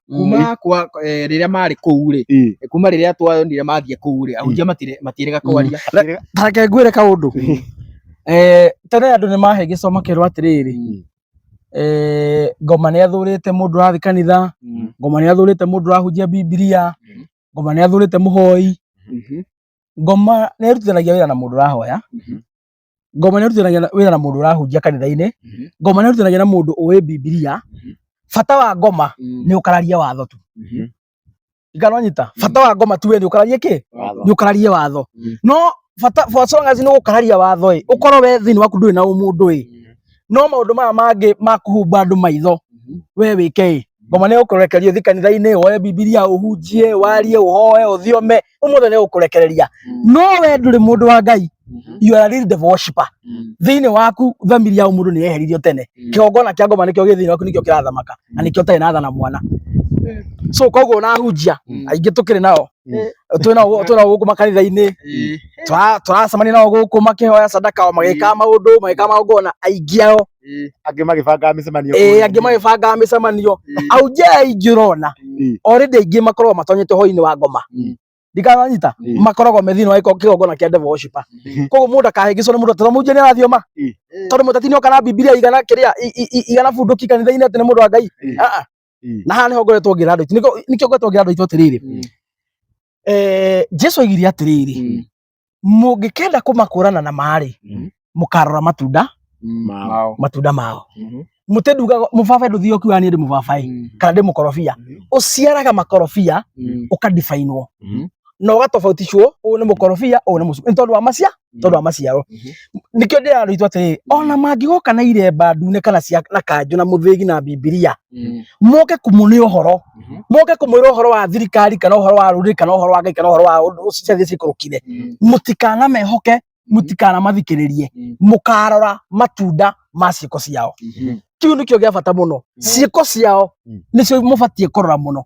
kuma kwa eh, rĩrĩa marĩ kũu rĩ Ĩ. eh, kuma rĩrĩa twonire mathiĩ kũu rĩ ahunjia matire- matirega kwaria tareke ngwĩre kaũndũ Eh, tene andũ nĩ mahe gĩcomo kĩrwo atĩrĩrĩ Mm. eh, ngoma nĩ athũrĩte mũndũ ũrathiĩ kanitha Mm. ngoma nĩ athũrĩte mũndũ ũrahunjia bibilia Mm. ngoma nĩ athũrĩte mũhoi Mhm. ngoma nĩ ĩrutithanagia wĩra na mũndũ ũrahoya Mhm. ngoma nĩ ĩrutithanagia na- wĩra na mũndũ ũrahunjia kanitha-inĩ Mhm. ngoma nĩ ĩrutithanagia na mũndũ ũĩ bibilia Mhm. bata wa ngoma Mm. nĩ ũkararia watho tu Mhm. ikanonyita bata wa ngoma tu we nĩ ũkararie kĩ Watho. nĩ ũkararie watho Mhm. no bata for as long as nĩ ũgũkararia watho ĩ ũkorwo we thĩinĩ waku ndũrĩ na ũmũndũ ĩ no maũndũ maya mangĩ ma kũhumba andũ maitho Mhm. we wĩke ĩ ngoma nĩ ũkũrekeria ũthi kanitha-inĩ woe bibilia ũhunjie warie ũhoe ũthiome umuthi ni gukurekereria no we nduri mundu wa ngai you are a real devil worshipper thiini waku family ya mundu ni yeheririo tene kigongona kia ngoma nikio gi thiini waku nikio kirathamaka na nikio tari nathana mwana so koguo unahunjia aingĩ tũkĩrĩ nao twĩ nao twĩ nao gũkũ makanitha-inĩ Tura- turacemania nao gũkũ makĩhoya sadaka o magĩkaga maũndũ magĩkaga magongona aingĩ ao Ĩĩ. angĩ magĩbangaga mĩcemanio ĩĩ kũrĩa. angĩ magĩbangaga mĩcemanio Ĩĩ. au nja ya ingi ũrona Ĩĩ. already aingĩ makoragwo matonyete hwainĩ wa ngoma Mm. ndikananyita Mm. makoragwo me thĩinĩ wa gĩko- kĩgongona kĩa devil worshiper Mm. koguo mũndũ akahĩngĩcwo nĩ mũndũ atĩ mũnjia nĩ arathioma Mm. tondũ mũteti nĩoka na bibilia igana kĩrĩa i- i- i- igana bunduki kanitha-inĩ atĩ nĩ mũndũ wa ngai Mm. Ah, ah. Mm. na haha nĩho ngoretwo ngĩra andũ aitũ Nĩkĩo- nĩkĩo ngoretwo ngĩra andũ aitũ atĩrĩrĩ Mm. Eh, jesu aigire atĩrĩrĩ Mm. mũngĩkenda kũmakũrana na marĩ Mhm. mũkarora matunda Mao. Mao. matunda mao Mhm. mũtĩ ndugaga mũbabaĩ ndũthiĩ ũkiuga niĩ ndĩ mũbabaĩ Mm. kana ndĩ mũkorobia Mhm. ũciaraga makorobia Mm. ũkadibainwo Mhm. na ũgatobautishwo ũyũ nĩ mũkorobia ũyũ nĩ mũcu nĩ tondũ wa macia tondũ wa maciaro Mhm. nĩkĩo ndĩrarĩitwo atĩrĩ ona mangĩgoka na iremba ndune kana cia na kanjũ na mũthĩgi na mbibiria mm. moke kumune uhoro mm-hmm. moke kumwira uhoro wa thirikari kana uhoro wa ruri kana uhoro wa ngai kana uhoro wa undu ucio cia cikurukire mm. mutikana mehoke mm. mutikana mathikiririe mukarora matunda ma ciiko ciao mm-hmm. kiu nikio gia bata muno ciiko ciao nicio mubatie kurora muno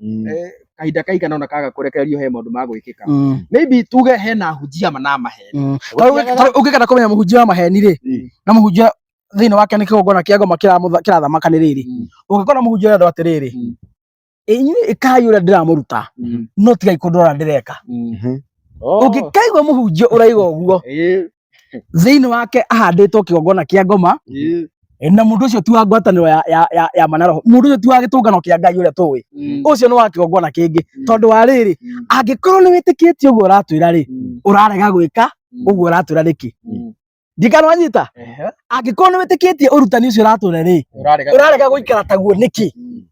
Mm. eh, kahinda kaigana ona kaga kũrekererio he maũndũ ma gwĩkĩka Mm, maybe tuge hena hunjia na maheni mm. Ta rĩu ũngĩ- ta rĩu ũngĩkenda kũmenya mũhunjia wa maheni rĩ Mm. na mũhunjia thĩinĩ wake nĩ kĩgongona kĩa ngoma kĩramũtha- kĩrathamaka nĩ rĩrĩ Mm. ũngĩkora mũhunjia ũrĩa andũ atĩrĩrĩ Mm. inyuĩ ĩkai ũrĩa ndĩramũruta Mm. no tigai kũndora ndĩreka Mhm. Oh. ũngĩkaigua mũhunjia ũraiga ũguo Eh, thĩinĩ wake ahandĩtwo kĩgongona kĩa ngoma na mundu ucio tu wa ngwataniro ya ya ya, ya manaro mundu ucio tu wa gitungano kia ngai uria tuwi mm. ucio ni wa kiongona kingi mm. tondu wa riri mm. angikorwo ni witikitie uguo uratwira ri urarega gwika uguo uratwira riki ndikano anyita angikorwo ni witikitie urutani ucio uratwira ri urarega guikara taguo niki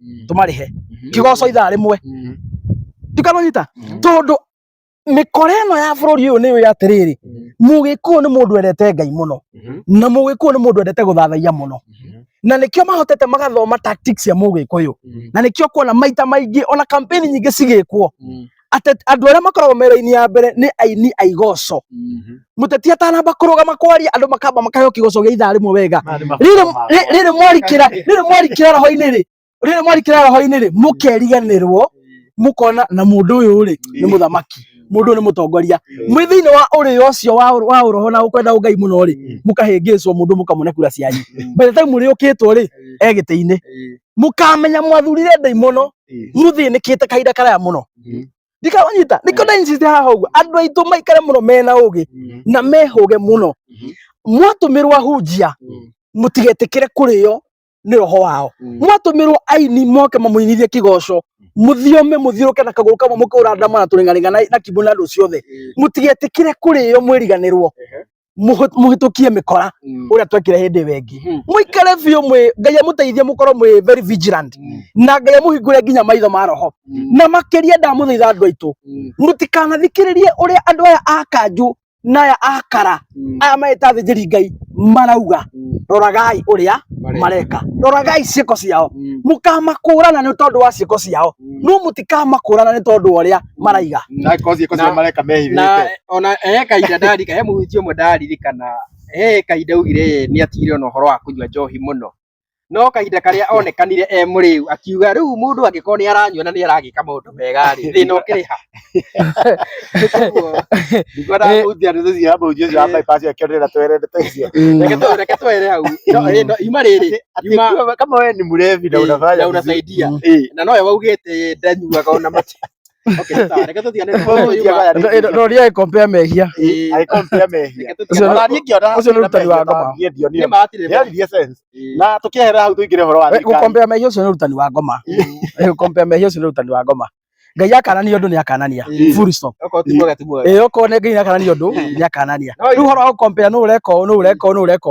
Mm. tũmarĩhe Mhm. kigoco ithaa rĩmwe Mhm. tikanonyita Mhm. tondũ mĩkora ĩno ya bũrũri ũyũ nĩyo atĩrĩrĩ Mhm. mũgĩkũyũ nĩ mũndũ endete ngai mũno Mhm. na mũgĩkũyũ nĩ mũndũ endete gũthathaiya mũno Mhm. na nĩkĩo mahotete magathoma tactics cia mũgĩkũyũ Mhm. na nĩkĩo kuona maita maingĩ ona kampeni nyingĩ cigĩkwo Mhm. atĩ andũ arĩa makoragwo mera-inĩ ya mbere nĩ aini a igoco Mhm. mũteti atanamba kũrũgama kwaria andũ makamba makaheo kĩgoco gĩa ithaa rĩmwe wega Maya nĩ rĩrĩ mabuku makwa. rĩ- rĩrĩ mwarikĩra rĩrĩ mwarikĩra roho-inĩ rĩ rĩrĩ mwarikĩra roho-inĩ rĩ mũkeriganĩrwo mũkona na mũndũ ũyũ rĩ nĩ mũthamaki mũndũ ũyũ nĩ mũtongoria mwĩ thĩinĩ wa ũrĩo ũcio wa wa ũroho na ũkwenda ũngai mũno rĩ mũkahĩngĩcwo mũndũ mũkamũne kura cianyu by the time mũrĩũkĩtwo rĩ e gĩtĩ-inĩ mukamenya mwathurire ndei muno muthinikite kahinda karaya muno ndikawanyita nikio ndainsiste haha uguo andu aitu maikare muno mena ugi na mehuge muno mwatumirwo ahunjia mutigetikire kurio ni roho wao mwatumirwo aini moke mamuinithie kigoco muthiome muthiuruke na kaguru kamwe mukura ndama na turingaringa na kibu na ndu ciothe mutigetikire kurio mwiriganirwo mũhũ- mũhĩtũkie mĩkora Mm. ũrĩa twekire hĩndĩ ĩyo ĩngĩ Mhm. mũikare biũ mwĩ ngai amũteithie mũkorwo mwĩ very vigilant Mm. na ngai amũhingũre nginya maitho ma roho Mm. na makĩria ndamũthaitha andũ aitũ Mm. mũtikanathikĩrĩrie ũrĩa andũ aya a kanjũ na aya a kara Mm. aya magĩta thĩnjĩri ngai marauga Mm. roragai ũrĩa Mareka. mareka roragai ciĩko ciao Mm. mũkamakũrana nĩ tondũ wa ciĩko ciao Mm. no mũtikamakũrana nĩ tondũ wa ũrĩa maraiga na kozi kozi Na- mareka mehithite na ona he kahinda ndarika he mũhunjia ũmwe ndaririkana he kahinda augire nĩ atigire ona ũhoro wa kũnyua njohi mũno no kahinda karĩa onekanire e mũrĩu akiuga rĩu mũndũ angĩkorwo nĩ aranyua na nĩ aragĩka maũndũ mega rĩ thĩna ũkĩrĩ ha Koguo, ndiko ndamuthia ndu cia mbu cio cia bypass ya kĩrĩra twerende taicio reke tũ- reke twere hau No, ĩ, no, ima rĩrĩ ima kama wewe ni mrevi na Eh, unafanya na unasaidia. vizuri. Eh, na nowe waugĩte ndanyuaga ona mati roria agĩkompea mehia agĩkompea mehia ũcio nĩ ũrutani wa ngoma na tũkĩehera hau tũingĩre ũhoro wa gũkompea mehia ũcio nĩ ũrutani wa ngoma gũkompea mehia ũcio nĩ ũrutani wa ngoma ngai akanania undu ni akanania full stop eh oko ne ngai akanania undu ni akanania riu horo au compare no ureka no ureka no ureka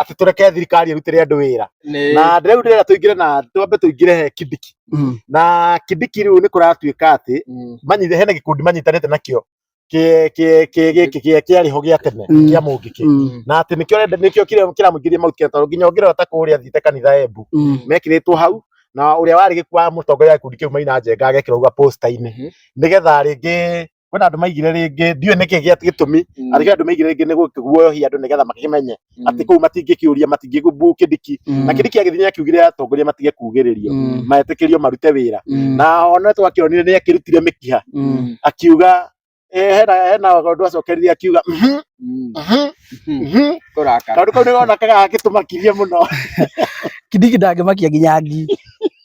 atĩ tũreke thirikari ĩrutĩre andũ wĩra Nĩ- na rĩu ndĩrenda tũingĩre na twambe tũingĩre he kidiki Mm. na kidiki rĩu nĩ kũratuĩka atĩ Mm. manyithe hena gĩkundi manyitanĩte nakĩo kĩ- kĩ- kĩ- gĩkĩ kĩa- kĩarĩ ho gĩa tene Mm. kĩa mũngĩkĩ Mm. na atĩ nĩkĩo renda- nĩkĩo kĩrĩa- kĩramũingĩria mauti tondũ nginya ũngĩrora ta kũrĩa thiĩte kanitha embu Mm. mekĩrĩtwo hau na ũrĩa warĩ gĩkuo wa mũtongoria wa gĩkundi kĩu maina njenga agekĩrwo uga posta-inĩ Mhm. nĩgetha rĩngĩ kwĩna andũ maigire rĩngĩ ndiũĩ nĩkĩ gĩa gĩtũmi Mm. arĩkĩra andũ maigire rĩngĩ nĩ gũkĩguoyohia andũ nĩgetha makĩmenye Mm. atĩ kũu matingĩkĩũria matingĩgumbu kĩndiki Mm. na kĩndiki agĩthiĩ akiugire atongoria matige kugĩrĩrio Mm. maetĩkĩrio marute wĩra Mm. na ona twakĩonire nĩ akĩrutire mĩkiha Mm. akiuga eh, hena hena ũndũ acokerire akiuga "Mhm, Mm. mhm, Mm. mhm." Kũrakara. kaũndũ kau nĩgonakaga gagĩtũmakirie mũno kidiki ndangĩmakia nginya ngi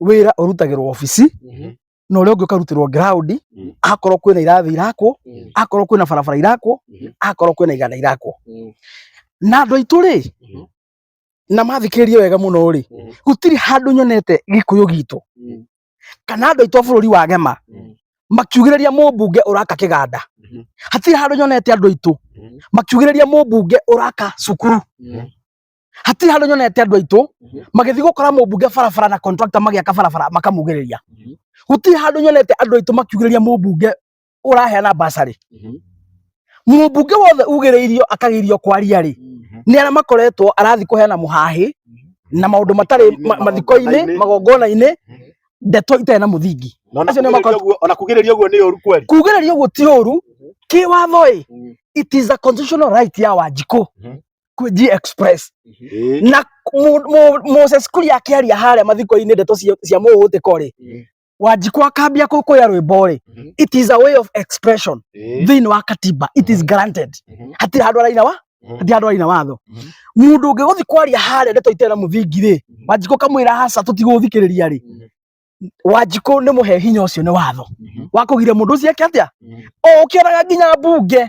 wĩra ũrutagĩrwo obici Mhm. na ũrĩa ũngĩ ũkarutĩrwo ground Mhm. akorwo kwĩna irathi irakwo Mhm. akorwo kwĩna barabara irakwo Mhm. akorwo kwĩna iganda irakwo Mhm. na andũ aitũ rĩ Mhm. na mathikĩrĩrie wega mũno rĩ Mhm. gũtirĩ handũ nyonete gĩkũyũ gitũ Mhm. kana andũ aitũ a bũrũri wa gema Mhm. makiugĩrĩria mũmbunge ũraka kĩganda Mhm. hatirĩ handũ nyonete andũ aitũ Mhm. makiugĩrĩria mũmbunge ũraka cukuru Mhm. hatirĩ handũ nyonete andũ aitũ magĩthiĩ gũkora mũmbunge barabara na contractor magĩaka barabara makamugĩrĩria gũtirĩ handũ nyonete andũ aitũ makiugĩrĩria mũmbunge ũraheana basarĩ mũmbunge wothe ugĩrĩirio akagĩirio kwaria rĩ nĩ arĩa makoretwo arathiĩ kũheana mũhahĩ na maũndũ matarĩ ma- mathiko-inĩ magongona-inĩ ndeto itarĩ na mũthingi Na ona Acio nĩ kugĩrĩria ũguo- ona kugĩrĩria ũguo nĩ ũru kweli kugĩrĩria ũguo ti ũru kĩwatho ĩ it is a constitutional right ya wanjikũ kwä G Express Eh, na mu- mu- Moses Kuria akĩaria harĩa mathiko-inĩ ndeto cia cia mũhũtĩko rĩ Mhm. wanjikũ akambia kũkũya rwĩmbo rĩ Mhm. it is a way of expression eh, thĩinĩ wa katiba it is granted Mhm. hatirĩ handũ araina wa Mhm. hatirĩ handũ araina watho Mhm. mũndũ ũngĩ gũthi kwaria harĩa ndeto itena mũthingi rĩ Mhm. wanjikũ kamwĩra haca tũtigũthikĩrĩria rĩ Mhm. wanjikũ nĩ mũhe hinya ũcio nĩ watho Mhm. wakũgiria mũndũ ũcio eke atĩa Mhm. o ũkĩonaga nginya mbunge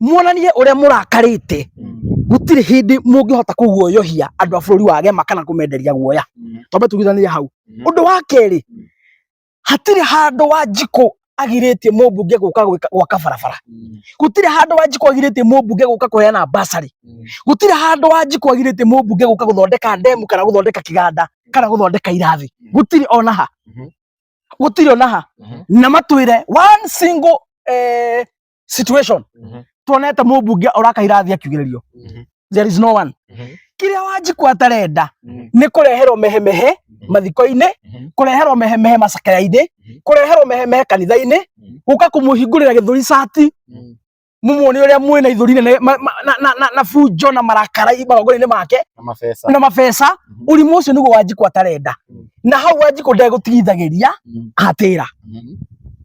muonanie ũrĩa mũrakarĩte gũtirĩ hĩndĩ mũngĩhota kũguoyohia andũ a bũrũri wa gema kana kũmenderia guoya twambe tuguithanĩrie hau ũndũ wa kerĩ hatirĩ handũ wa njikũ agirĩtie mũmbunge gũka gwĩka- gwaka barabara gũtirĩ handũ wa njikũ agirĩtie mũmbunge gũka kũheana basarĩ gũtirĩ handũ wa njikũ agirĩtie mũmbunge gũka gũthondeka ndemu kana gũthondeka kĩganda kana gũthondeka irathi gũtirĩ ona ha gũtirĩ ona ha na matwĩre one single eh, situation Mhm. tuonete mũmbunge oraka irathi akiugĩrĩrio Mhm. there is no one Mhm. kĩrĩa wanjikwa atarenda Mhm. nĩ kũreherwo mehemehe mathiko-inĩ Mhm. kũreherwo mehemehe macakaya-inĩ Mhm. kũreherwo mehemehe kanitha-inĩ Mhm. gũka kũmũhingũrĩra gĩthũri cati Mhm. mũmuone ũrĩa mwĩ na ithũri nene ma- ma- na- na- na- na bunjo na marakara magongona-inĩ make Na mabesa. na mabeca Mhm. ũrimũ ũcio nĩguo wanjikwa atarenda Mhm. na hau wanjikũ ndegũtigithagĩria Mhm. atĩra Mhm.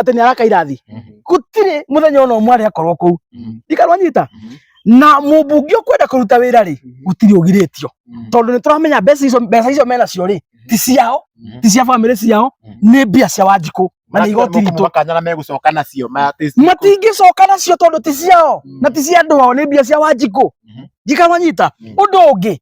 atĩ nĩ araka irathi gũtirĩ mũthenya ona ũmwe arĩ akorwo kũu ndikarwo anyita na mũmbunge ũkwenda kũruta wĩra rĩ gũtirĩ ũgirĩtio tondũ nĩ tũramenya mbeca icio mbeca icio mena cio rĩ ti ciao ti cia bamĩrĩ ciao nĩ mbia cia wanjikũ na nĩ igoti ritũ makanyana megũcoka nacio matingĩcoka nacio tondũ ti ciao na ti cia andũ ao nĩ mbia cia wanjikũ njikawanyita ũndũ ũngĩ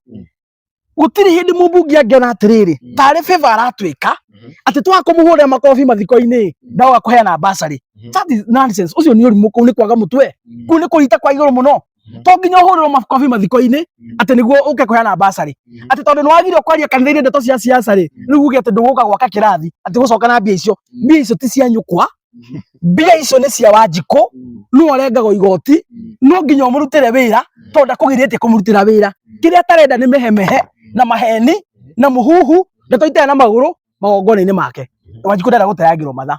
gũtirĩ hĩndĩ mũmbunge angĩona atĩrĩrĩ Mm. tarĩ favor aratwĩka Mhm. atĩ twaga kũmũhũrĩra makobi mathiko-inĩ Mm. ndawa kũheana mbacarĩ Mhm. that is nonsense ũcio nĩ ũrimũ kũu nĩ kwaga mũtwe Mm. kũu nĩ kũrita kwa igũrũ mũno Mhm. to nginya ũhũrĩrwo makobi mathiko-inĩ Mm. atĩ nĩguo ũke kũheana mbacarĩ Mhm. atĩ tondũ nĩ wagire kwaria kanitha-inĩ ndeto cia siasa rĩ rĩu uge atĩ ndũgũka gwaka kĩrathi atĩ gũcoka na mbia icio Mm. mbia icio ti cia nyũkwa mbia icio nĩ cia wanjikũ nũ arengagwo igoti no nginya ũmũrutĩre wĩra tondũ ndakũgirĩtie kũmũrutĩra wĩra kĩrĩa atarenda nĩ mehemehe na maheni na mũhuhu ndeto itaya na magũrũ magongona-inĩ make wanjikũ ndarenda gũteangĩrwo matha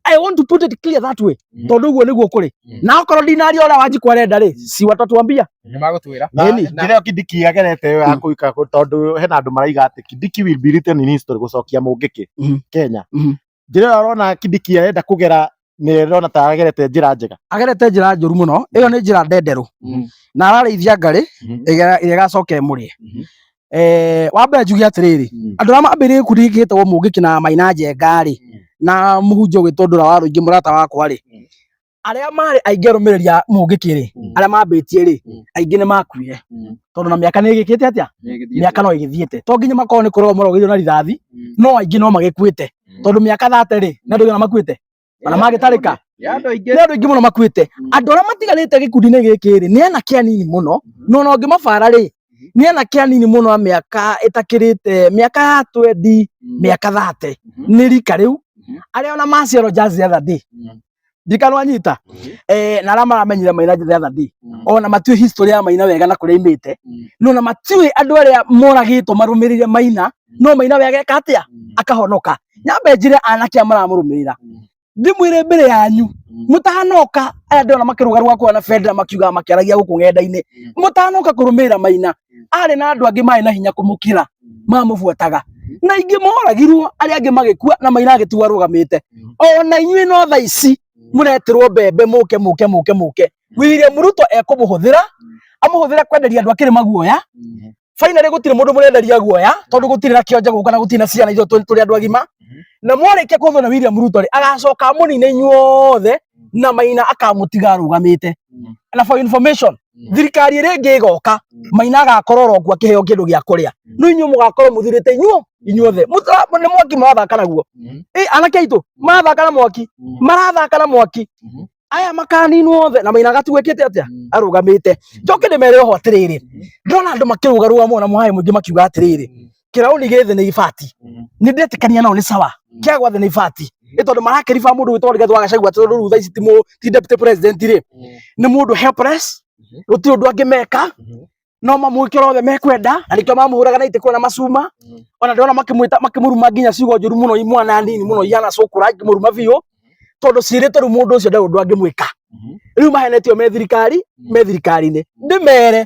I want to put it clear that way tondũ ũguo nĩguo kũrĩ na okorwo ndinaria ũrĩa wanjikũ arenda rĩ si watatwambia nĩ magũtwĩra na Ĩni. njĩra ĩyo kindiki yagerete yo ya kũika tondũ hena andũ maraiga atĩ kindiki will be written in history gũcokia mũngĩkĩ Mhm. kenya Mhm. njĩra ĩyo arona Kibiki arenda kũgera nĩ ĩrona ta agerete njĩra njega agerete njĩra njũru mũno ĩyo nĩ njĩra ndenderũ mm. na ararĩithia ngarĩ mm-hmm. ĩrĩa ĩgacoka ĩmũrĩe mm-hmm. eh, wa mbere njuge atĩrĩrĩ mm. andũ arĩa mambĩrĩire gĩkundi gĩkĩ gĩtagwo mũngĩki na maina njenga rĩ mm. na mũhunjia ũgĩtũndũra wa rũingĩ mũrata wakwa rĩ arĩa marĩ aingĩ arũmĩrĩri a mũngĩkĩ-rĩ Mm. arĩa mambĩtie-rĩ Mm. aingĩ nĩ makuire Mm. tondũ na mĩaka nĩ ĩgĩkĩte atĩa Nĩgĩthiĩte. mĩaka no ĩgĩthiĩte to nginya makorwo nĩ kũrogwo marogithio na rithathi Mm. no aingĩ no magĩkuĩte Mm. tondũ mĩaka thate-rĩ nĩ andũ aigana makuĩte ona magĩtarĩka Ya andũ aingĩ. nĩ andũ aingĩ mũno makuĩte Mm. andũ arĩa matigarĩte gĩkundi-inĩ gĩkĩ-rĩ nĩ anake anini mũno no ona ũngĩmabara-rĩ nĩ anake anini mũno a mĩaka ĩtakĩrĩte mĩaka ya twendi Mm. mĩaka thate Mhm. nĩ rika rĩu Mhm. arĩa ona maciarwo just the other day Mm. ndikano anyita mhm. eh na rama ramenyire maina the other day mhm. ona matue history ya maina wega na kuria imite mhm. no na matue andu aria moragitwo marumirire maina no maina wega katia akahonoka nyambe njire anake amaramurumirira ndimwire mbere yanyu mutanoka aya ndona makiruga rwa kwa na fedra makiuga makiaragia guku ngenda-ini mutanoka kurumirira maina arĩ na andũ angĩ marĩ na hinya kũmũkĩra mamũbuataga na ingĩ moragirwo arĩa angĩ magĩkua na maina agĩtuo arũgamĩte ona inyuĩ no tha ici mũretirwo mbembe mũke mũke mũke mũke William Ruto ekũmũhũthĩra amũhũthĩre kwenderia andũ akĩrĩ maguoya finally gũtirĩ mũndũ mũrenderia guoya tondũ gũtirĩ na kĩonje gũka na gũtirĩ na ciana ithuĩ tũ- tũrĩ andũ agima na mwarĩkia kũhũthwo na William Ruto rĩ agacoka mũnine inyuothe na maina akamũtiga arũgamĩte na for information Mm. thirikari ĩrĩa ĩngĩ ĩgoka mm. maina agakorwo oro kuo akĩheo kĩndũ gĩa kũrĩa mm. no inyuĩ mũgakorwo mũthurĩte inyuo inyuothe nĩ mwaki marathaka naguo ĩ anake aitũ marathaka na mwaki marathaka na mwaki mm-hmm. aya makaninwo othe na maina gatuĩkĩte atĩa arũgamĩte njoke ndĩmere oho atĩrĩrĩ ndona andũ makĩrũgarũga mũno na mũhaĩ mũingĩ makiuga atĩrĩrĩ kĩraũni gĩthĩ nĩ ibati mm. nĩ ndetĩkania nao nĩ sawa mm. kĩa gwathĩ nĩ ibati mm. nĩ tondũ marakĩriba mũndũ gwĩtwo Rigathĩ wa Gachagua atĩ rĩu thaa ici ti deputy president rĩ nĩ mũndũ helpless mm-hmm. gũtirĩ ũndũ angĩmeka mm-hmm. no mamwĩkĩra othe mekwenda na nĩkĩo mamũhũraga na itĩ kwĩna macuma mm-hmm. ona ndĩrona makĩmwĩta makĩmũruma nginya ciugo njũru mũno imwana nini mũno ihana cũkũra ngĩmũruma biũ tondũ ciĩrĩte rĩu mũndũ ũcio ndarĩ ũndũ angĩmwĩka rĩu mahenetio me thirikari me thirikari-inĩ ndĩmere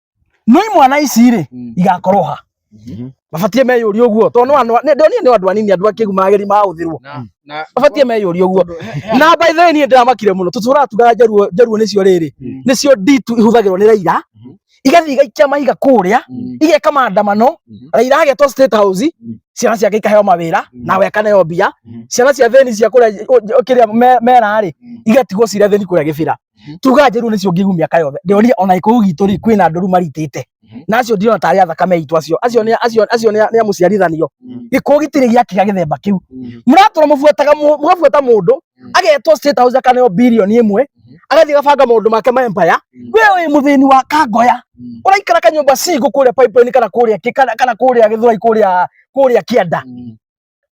no imwana ici rĩ Mm. igakorwo ha Mhm. mabatie meyũria ũguo tondũ no andũ- nĩ- ndonire nĩ andũ anini andũ akĩgu mageri mahũthĩrwo Na- na- mabatie meyũria ũguo Tondũ he- he- na by the way niĩ ndĩramakire mũno tũtũraga tugaga njaruo njaruo nĩcio rĩrĩ Mm. nĩcio nditu ihũthagĩrwo nĩ raira Mhm. igathiĩ igaikia mahiga kũrĩa Mm. igeka maandamano Mhm. raira agetwo state house Mm. ciana ciake ikaheo mawĩra Mm. nawe akaneo mbia Mhm. ciana cia thĩni cia kũrĩa kĩrĩa me- mera rĩ Mm. igatigwo cirĩa thĩni kũrĩa gĩbĩra Mhm. tuga njĩru nĩcio ngĩgu mĩaka yothe ndĩonire ona ikũu gitũ rĩ kwĩna ndũru maritĩte Mhm. na acio ndirona tarĩ athakame aitũ acio acio nĩ acio acio nĩ nĩ amũciarithanio Mhm. gĩkũũ gĩtirĩ gĩakiga gĩthemba kĩu Mhm. mũratũra mũbuataga mũ- mũgabuata mũndũ Mhm. agetwo state house akaneo bilioni ĩmwe Mhm. agathiĩ gabanga maũndũ make ma empire Mhm. we wĩ mũthĩni wa kangoya Mhm. ũraikara kanyũmba cigũ kũrĩa pipeline kana kũrĩa kĩ- kana kana kũrĩa gĩthwai kũrĩa kũrĩa kĩanda Mhm.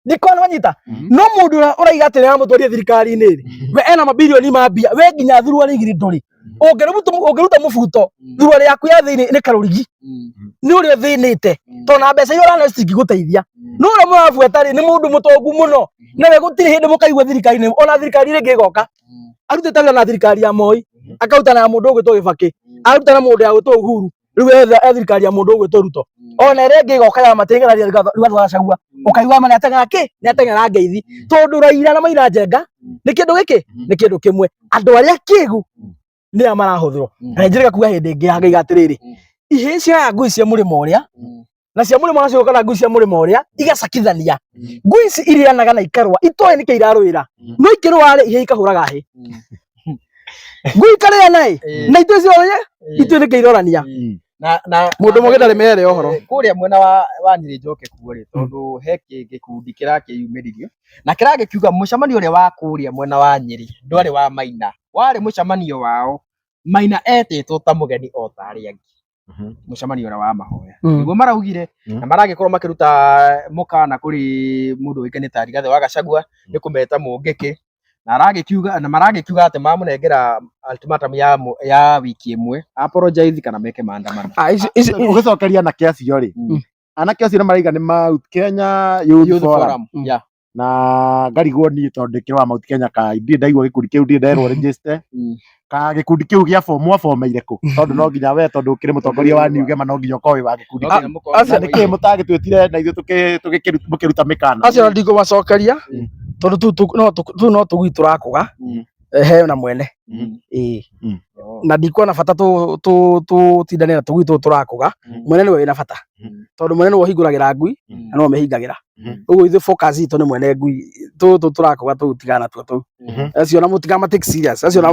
ndikona wanyita mhm. no mundu uraiga atiri na mutwarie thirikari ni ri mhm. we ena mabilioni ma mbia we nginya thurwa ni giri nduri mhm. ungiruta ungiruta mubuto thurwa ri yaku ya thini ni karurigi ni uri thinite to na mbeca iyo urana cingiguteithia no ura murabuata ri ni mundu mutongu muno na we gutiri hindi mukaigua thirikari ni ona thirikari ringi goka arutite wira na thirikari ya moi akaruta na mundu ugitwo gibaki aruta na mundu ya gwitwo uhuru riu etha ethirikari ya mundu ugwitwo ruto mm. ona ere ngi goka ya matingera ria rugatho gacagua mm. ukaigua mana atengera ki ni atengera ngeithi mm. tondu raira na maira njenga ni kindu giki ni kindu kimwe andu aria kigu ni a marahuthirwo na njire gakuga hindi ngi ya ngai atiriri ihĩ cia ngui cia mũrĩmo ũrĩa na cia mũrĩmo nacio kana ngui cia mũrĩmo ũrĩa igacakithania mm. ngui ici irĩanaga na ikarũa itoĩ nĩkĩ irarũĩra mm. no ikĩrũa-rĩ ihĩ ikahũraga hĩ mm. ngui ikarĩana ĩ eh. na itoĩ ciothe eh. itoĩ nĩkĩ irorania mundu mugi ndari mere ohoro eh, kuria mwena wa wa nyiri njoke kuo ri tondu he gikundi kirakiyumiririo na kiragikiuga mucemanio uria wa kuria mwena wa nyiri ndwari wa maina wari mucemanio wao maina etitwo ta mugeni o ta aria angi Mhm. mũcemanio ũrĩa wa mahoya Mm. nĩguo maraugire Mm. na maragĩkorwo makĩruta mũkana kũrĩ mũndũ ũĩkaine ta Rigathĩ wa Gachagua nĩ kũmeta mũngĩkĩ na aragĩkiuga na maragĩkiuga atĩ mamũnengera ultimatum ya mũ- ya wiki ĩmwe apologize kana meke maandamano Ah, ici- ici- ũgĩcokeria anake acio rĩ Mm. anake acio nĩ maraiga nĩ mau kenya Youth Youth Forum. Forum, yeah. na ngarigwo niĩ tondũ ndĩ kĩrĩ wa Mount Kenya ka ndirĩ ndaigua gĩkundi kĩu ndirĩ nderwo register Mm. ka gĩkundi kĩu gĩa form mwabomeire kũ tondũ no nginya we tondũ ũkĩrĩ mũtongoria wa New Gema no nginya ũkorwo wĩ wa gĩkundi No kĩu nginya mũkorwo acio- na nĩkĩ mũtagĩtwĩtire na ithuĩ tũkĩ- tũgĩkĩru- mũkĩruta mĩkana acio ndingũmacokeria Mm. tondũ tu- tu- no tu- tu no tũgui tũrakũga Mm. eh, heo na mwene Mm. Ĩĩ. Mm. Oh. na ndikuona bata tũ- tũ- tũtindane na tũgui tũũ tũrakũga Mm. mwene nĩwe wĩna bata Mm. tondũ mwene nĩwe ũhingũragĩra ngui Mm. na nĩwe ũmĩhingagĩra Mhm. ũguo ithuĩ focus itũ nĩ mwene ngui tũtũ tũrakũga tũu tigana natuo tũu Mhm. acio na mũtiga matake serious acio na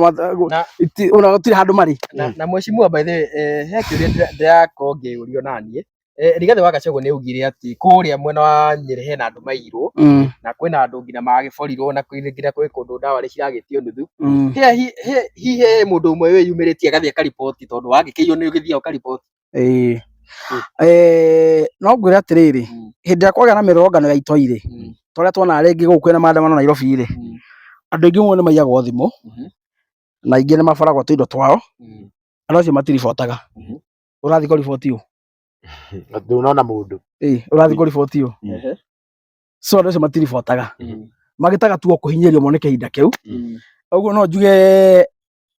Na- iti- ona gũtirĩ handũ marĩ na, na mheshimiwa by the way, eh, he kĩũria ndĩra- ndĩrakorwo ngĩũrio naniĩ eh, rigathĩ wa gacagũ nĩ augire atĩ kũrĩa mwena wa nyĩrĩ hena andũ mairwo Mm, na kwĩna andũ nginya magĩborirwo na kwĩ- nginya kwĩ kũndũ ndawa nĩ ciragĩtio nuthu mm. He- hi- he- hihi he mũndũ ũmwe wĩyumĩrĩtie agathiĩ akariboti tondũ wagĩkĩio nĩ ũgĩthiaga ũkariboti Ĩĩ. Eh, no ngwĩre atĩrĩrĩ, Mm. hĩndĩ ĩrĩa kwagĩa na mĩrũrũngano ya itoi-rĩ, Mm. ta ũrĩa tuonaga rĩngĩ gũkũ kwĩna maandamano Nairobi-rĩ, Mm. andũ aingĩ mũno nĩmaiyagwo thimũ, Mhm. na aingĩ nĩmaboragwo tũindo twao, Mm. andũ acio matiribotaga. Mhm. Ũrathiĩ kũriboti ũ? Atĩ ũnona mũndũ. Ĩĩ, ũrathiĩ kũriboti ũ? Ehe. So andũ acio matiribotaga. Mm. Magĩtaga tu o kũhinyĩrĩrio mone kĩhinda kĩu. Mm. Ũguo no njuge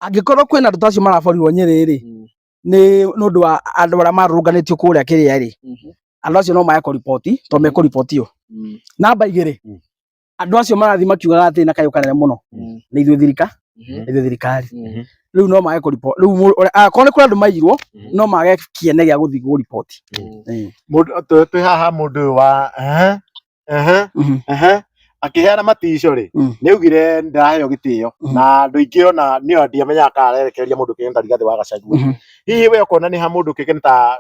angĩkorwo kwĩna andũ ta acio maraborirwo Nyĩrĩ-rĩ, Mm. nĩ nĩ ũndũ wa andũ arĩa marũrũnganĩtio kũrĩa kĩrĩa rĩ Mhm. andũ acio no maya kũriboti to mekũribotio Mm. namba igĩrĩ Mm. andũ acio marathiĩ makiugaga atĩ na kayũ kanene mũno Mm. nĩ ithuĩ thirika Mhm. nĩ ithuĩ thirikari Mm. rĩu no mage kũriboti rĩu mũndũ- ũrĩa- akorwo nĩ kũrĩ andũ mairwo Mhm. no mage kĩene gĩa gũthiĩ kũriboti Mm. Mũndũ- twĩ- twĩ haha mũndũ ũyũ wa ehe, Aha, Mhm. aha. akĩheana matico rĩ Mm. nĩ augire ndaraheo gĩtĩo Mhm. na andũ aingĩ ona nĩ o ndiamenyaga kana arerekereria mũndũ kĩgeni ta rigathĩ wa gacagua Mhm. hihi we ũkona nĩ ha mũndũ kĩgeni ta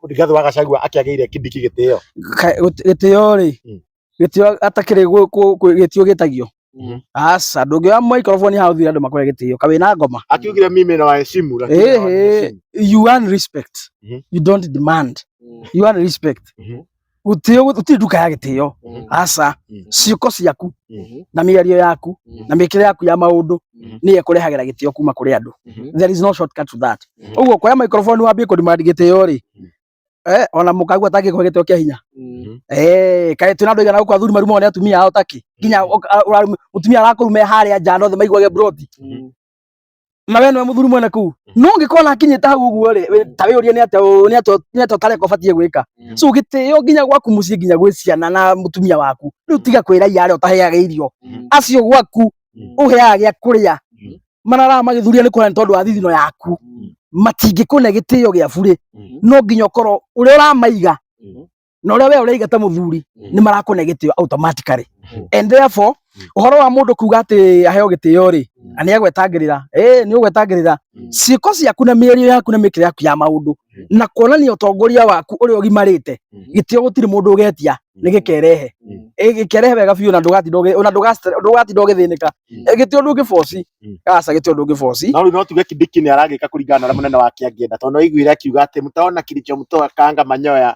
rigathĩ wa gacagua akĩagĩire kĩndiki gĩtĩo Ka- gũt- gĩtĩo rĩ Mm. gĩtĩo atakĩrĩ gwĩ- kũ- kwĩ- gĩtĩo gĩtagio Mhm. aca ndũngĩoya microphone haha ũthire andũ makore gĩtĩo ka wĩna ngoma akiugire mimi na waheshimu lakini Ehe. hawaniheshimu. you want respect Mhm. you don't demand Mm. you want respect Mhm. gũtĩo gũtirĩ nduka ya gĩtĩo Mm. aca Mhm. ciĩko ciaku Mhm. na mĩario yaku Mhm. na mĩkĩre yaku ya maũndũ Mhm. nĩyo ĩkũrehagĩra gĩtĩo kuma kũrĩ andũ Mhm. there is no shortcut to that Mhm. ũguo kuoya microphone wambie kũdemand gĩtĩo rĩ Mhm. eh ona mukagua taki kwa gitwe kia hinya mm. eh kai tuna ndoiga na kwa thuri marumo ne atumia ao taki kinya mm. mutumia arakurume hari ya jano the maigwage broti mm. mawe no muthuri mwene ku no ngikona akinyita hau guo ri ta wi uria ni ate ni ate ni ate tare ko fatie gwika so gite yo ginya gwaku muci ginya gwi ciana na mutumia waku riu tiga kwira yare utaheaga irio acio gwaku uheaga gya kuria marara magĩthuria nĩ kuona nĩ tondũ wa thithino yaku mm. matingĩkũne gĩtĩo gĩa burĩ mm-hmm. no nginya ũkorwo ũrĩa ũramaiga mm-hmm. na ũrĩa we ũraiga ta mũthuri mm-hmm. nĩ marakũne gĩtĩo automatically and therefore mm. ũhoro wa mũndũ kuga atĩ aheo gĩtĩo rĩ mm. na nĩ agwetangĩrĩra ĩĩ nĩ ũgwetangĩrĩra mm. ciĩko ciaku na mĩario yaku na mĩkĩre yaku ya maũndũ na kuonania utongoria waku uri ugimarite gitio gutiri mundu ugetia ni gikerehe gikerehe wega biu na ndugati ndoge na ndugati ndugati ndoge thinika gitio ndu gifosi asa gitio ndu gifosi na uri no tuge kidiki ni aragika kuringana na munene wake angienda tondu aiguire akiuga ati mutaona kilicho mtoa kanga manyoya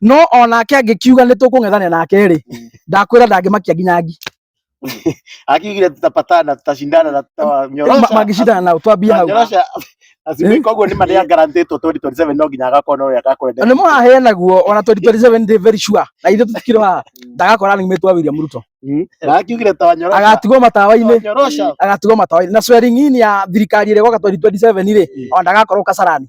no onake angĩkiuga nĩ tũkũng'ethanĩra nake rĩ ndakwĩra ndangĩmakia nginya ngi akiugire tutapatana tutashindana na tutanyorosha mangĩcindana nao twambie hau tunyorosha asibe koguo nĩ marĩa garantĩtwo 2027 no nginya agakorwo no ya gakwenda nĩ mũraheanaguo ona 2027 ndĩ very sure na ithuĩ tũtikĩrĩ haha ndagakora running mate wa William Ruto na akiugire tanyorosha agatigwo matawa-inĩ tanyorosha agatigwo matawa-inĩ na swearing in ya thirikari ĩrĩa ĩgoka 2027 rĩ ona ndagakorwo kasarani